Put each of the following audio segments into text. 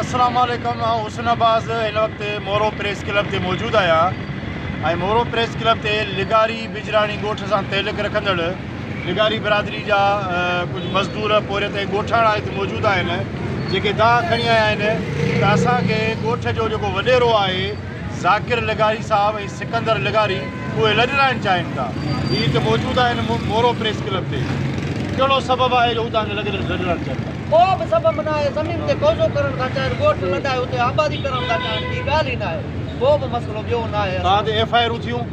اسلام عليڪم آئون حسن عباس هن وقت مورو پريس ڪلب تي موجود آهيان ۽ مورو پريس ڪلب تي لغاري بجراڻي ڳوٺ سان تعلق رکندڙ نگاري برادري جا ڪجهه مزدور پورهيت ۽ ڳوٺاڻا هت موجود آهن جيڪي دانهن کڻي آيا آهن ته اسان کي ڳوٺ جو جيڪو وڏيرو آهي ذاڪر لغاري صاحب ۽ سڪندر لغاري اهي لڏرائڻ چاهين ٿا هي هت موجود آهن مورو پريس ڪلب تي ڪهڙو سبب آهي جو هو توهان کي لڏرائڻ چاهين ٿا. ڪو به سبب ناهي زمين تي قوضو ڪرڻ ٿا چاهين ڳوٺ لڏائي اتي آبادي ڪرڻ ٿا چاهين ٻي ڳالهه ئي ناهي ڪو به مسئلو ٻيو ناهي توهان تي ايف آء آرون ٿيون.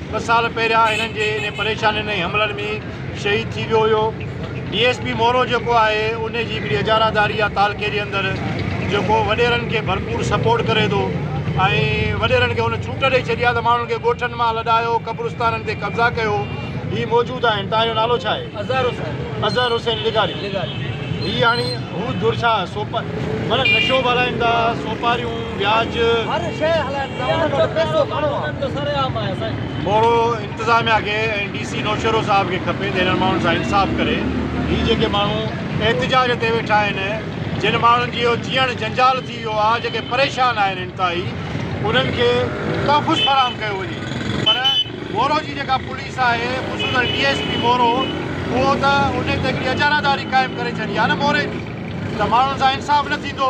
ٻه سال پهريان هنن جي انهي پريشانين ۽ حملن ۾ شهيد ٿي ويو هيو. ڊي ايس پي مورو جيڪو آهي انهي جي هڪڙي اجاراداري يا تعلقي جي اندر جيڪو وڏيرن کي ڀرپور سپورٽ ڪري ٿو ۽ وڏيرن کي هن ڇوٽ ڏئي ڇڏي آهي ته ماڻهن کي ڳوٺن مان لڏايو قبرستانن تي قبضا ڪيو هي موجود آهن توهان جو نالو ڇا آهي؟ اظهر حسين. اظهر حسين لغاري. لغاري. هي هاڻي هو دور ڇا سوپا مطلب نشو ٻارائين ٿا سوپاريون. پياج موڙو انتظاميا کي ۽ ڊي سي نوشهرو صاحب کي کپي ته هنن ماڻهن سان انصاف ڪري هي جيڪي ماڻهو احتجاج تي ويٺا آهن جن ماڻهن جي اهو جيئڻ جنجال ٿي ويو آهي جيڪي پريشان آهن انتهائي انهن کي تحفظ فراهم ڪيو وڃي پر مورو جي جيڪا پوليس آهي خصوصن ڊي ايس پي مورو اهو ته انهي تي هڪڙي اجاراداري قائم ڪري ڇڏي آهي نه موري جي ته ماڻهن سان انصاف نه ٿيندو.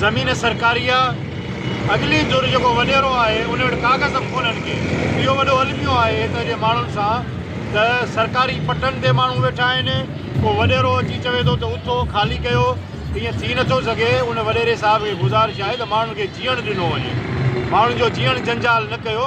زمين سرڪاري آ اڳلي ڌر جيڪو وڏيرو آهي ان وٽ ڪاغذ به ڪونهن ڪي اهو وڏو الميو آهي هت جي ماڻهن سان ته سرڪاري پٽن تي ماڻهو ويٺا آهن ڪو وڏيرو اچي چوي ٿو ته اٿو خالي ڪيو ايئن ٿي نه ٿو سگهي ان وڏيري صاحب کي گذارش آهي ته ماڻهن کي جيئڻ ڏنو وڃي ماڻهن جو جيئڻ جنجال نه ڪيو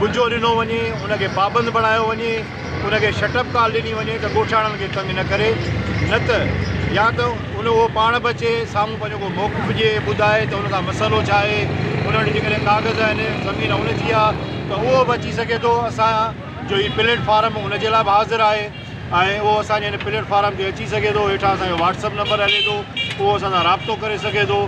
ٻجهو ڏنو وڃي، ان کي پابند بڻايو وڃي، ان کي شٽ اپ ڪال ڏني وڃي ته ڳوٺاڻن کي تنگ نه ڪري، نه ته يا ته ان اهو پاڻ به اچي سامهون پنهنجو ڪو موقف ڏئي ٻڌائي ته ان سان مسئلو ڇا آهي، ان وٽ جيڪڏهن ڪاغذ آهن، زمين ان جي آهي ته اهو به اچي سگهي ٿو، اسان جو هي پليٽ فارم ان جي لاء به حاضر آهي. ۽ اهو اسان جي هن پليٽ فارم تي اچي سگهي ٿو هيٺان اسان جو واٽس اپ نمبر هلي ٿو اهو اسان سان رابطو ڪري سگهي ٿو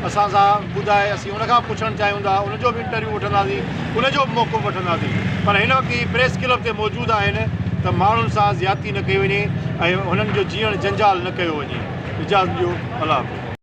اسان سان ٻڌائي اسين ان کان پڇڻ چاهيون ٿا ان جو به انٽرويو وٺنداسين ان جو به موقعو وٺنداسين پر هن وقت هي پريس ڪلب تي موجود آهن ته ماڻهن سان زيادتي نه ڪئي وڃي ۽ هنن جو جيئڻ جنجال نه ڪيو وڃي اجازت ڏيو الله حافظ.